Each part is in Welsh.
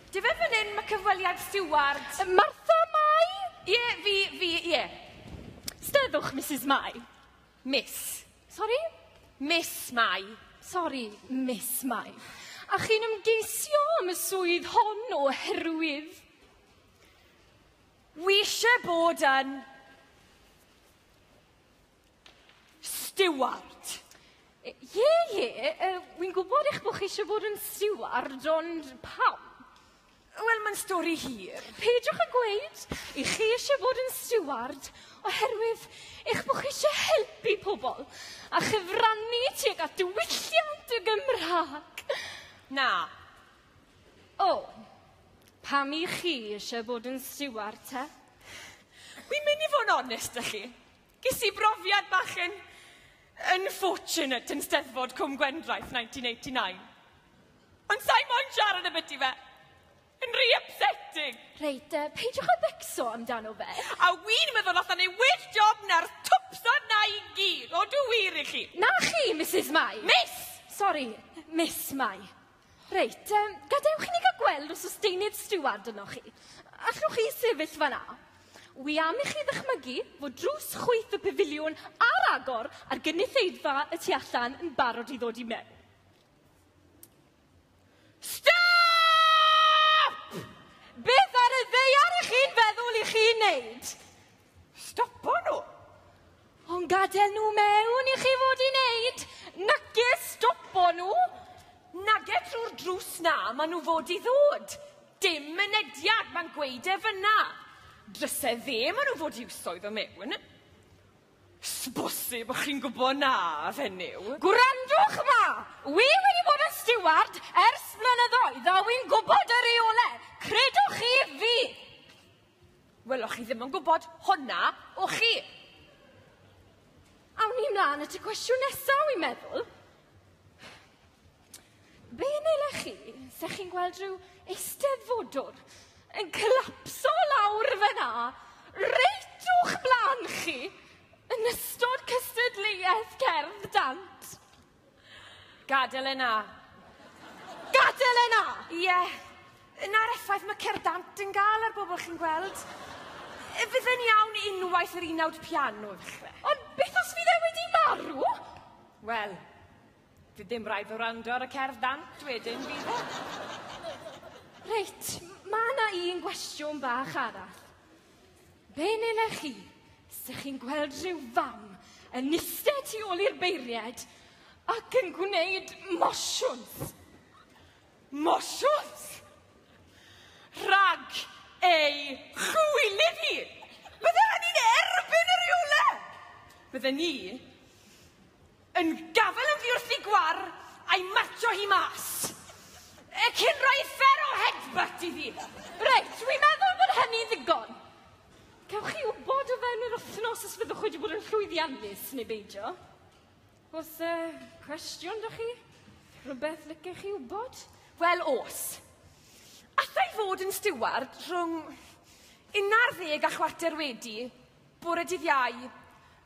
Dy fe fan hyn, mae cyfweliad Stewart. Martha Mai? Ie, yeah, fi, fi, ie. Yeah. Steddwch, Mrs Mai. Miss. Sorry? Miss Mai. Sorry, Miss Mai. A chi'n ymgeisio am y swydd hon o herwydd? Wi eisiau bod yn Steward! Ie, ie, uh, wy'n gwybod eich bod chi eisiau bod yn steward, ond pam? Wel, mae'n stori hir. Peidiwch â gweud i chi eisiau bod yn steward oherwydd eich bod chi eisiau helpu pobl a chyfrannu tuag at diwylliant y Gymraeg. Na. O, pam i chi eisiau bod yn steward te? Wi'n mynd i fod yn onest â chi. Ges i brofiad bach yn unfortunate yn Steddfod Cwm Gwendraeth 1989. Ond sa'i moyn siarad am ydi fe. Yn rhy upsetting. Reit, uh, peidiwch a becso amdano fe. A wi'n meddwl allan ei well job na'r twpsa na i gyd. O, dwi wir i chi. Na chi, Mrs Mai. Miss! Sorry, Miss Mai. Reit, um, gadewch i ni gael gweld os oes deunydd stiward yno chi. Allwch chi sefyll fanna? Wi am i chi ddychmygu fod drws chwyth y pafiliwn ar agor a'r gynulleidfa y tu allan yn barod i ddod i mewn. Stop! Beth ar y ddeiar ych chi'n feddwl i chi'n neud? Stopo nhw! Ond gadael nhw mewn i chi fod i wneud, nage stopo nhw! Nage trwy'r drws na maen nhw fod i ddod. Dim mynediad, mae'n gweud e fyna. Drysau dde maen nhw fod i wsoedd o mewn. Sbosib, chi'n gwybod na, fenyw. Gwrandwch ma! Wi wedi bod yn stiward ers blynyddoedd a wi'n gwybod y reolau, credwch chi fi! Wel, o'ch chi ddim yn gwybod hwnna, o'ch chi? Awn ni mlaen at y cwestiwn nesaf, wi'n meddwl. Be yn eile chi, se chi'n gweld rhyw eisteddfodwr yn collapso lawr fyna, reit o'ch blaen chi, yn ystod cystadleuaeth cerdd dant? Gadael e 'na! Gadael e 'na! Ie, 'na'r effaith ma' cerddant yn ga'l ar bobl chi'n gweld. Yy fydd e'n iawn unwaith yr unawd piano ddechre. Ond beth os fydd e wedi marw? Wel, fydd dim raid o wrando ar y cerddant wedyn, fydd e? Reit, ma' 'na un gwestiwn bach arall. Be nela chi? Sech chi'n gweld rhyw fam yn iste tu ôl i'r beiriad ac yn gwneud mosiwns. Mosiwns! Rhag ei chwylydd hi! Bydde hynny'n erbyn y rheolau! Bydde ni Yn gafael oddi wrth i Gwar a'i marcio hi mas. E cyn rhoi fer o headbutt iddi. Reit, dwi'n meddwl bod hynny'n ddigon. Cewch chi wybod o fewn yr wythnos os fyddwch wedi bod yn llwyddiannus neu beidio. Os uh, cwestiwn da chi? Rhywbeth licech chi wybod? Wel, os. Alla i fod yn stiward rhwng 11 a chwarter wedi, Bore dydd Iau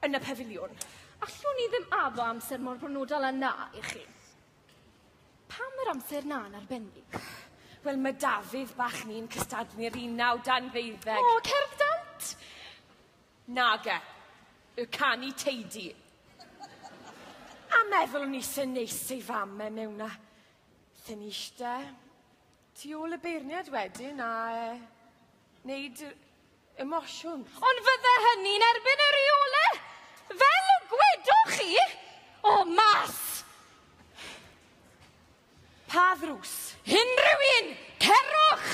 yn y Pafiliwn. Allwn ni ddim addo amser mor bronodol â 'na i chi. Pam yr amser 'na yn arbennig? Wel, mae Dafydd bach ni'n cystadlu'r unawd anfeuddeg. O, cerdd dant! Nage. Y canu teidi. A meddwl o'n i se neis ei fam e mewn a thynnu ishte. Tu ôl y beirniad wedyn a e, wneud y emosiwn. Ond fydde hynny'n erbyn y rheole! Fel y gwedoch chi, o mas! Pa ddrws? Unrhyw un! Cerwch!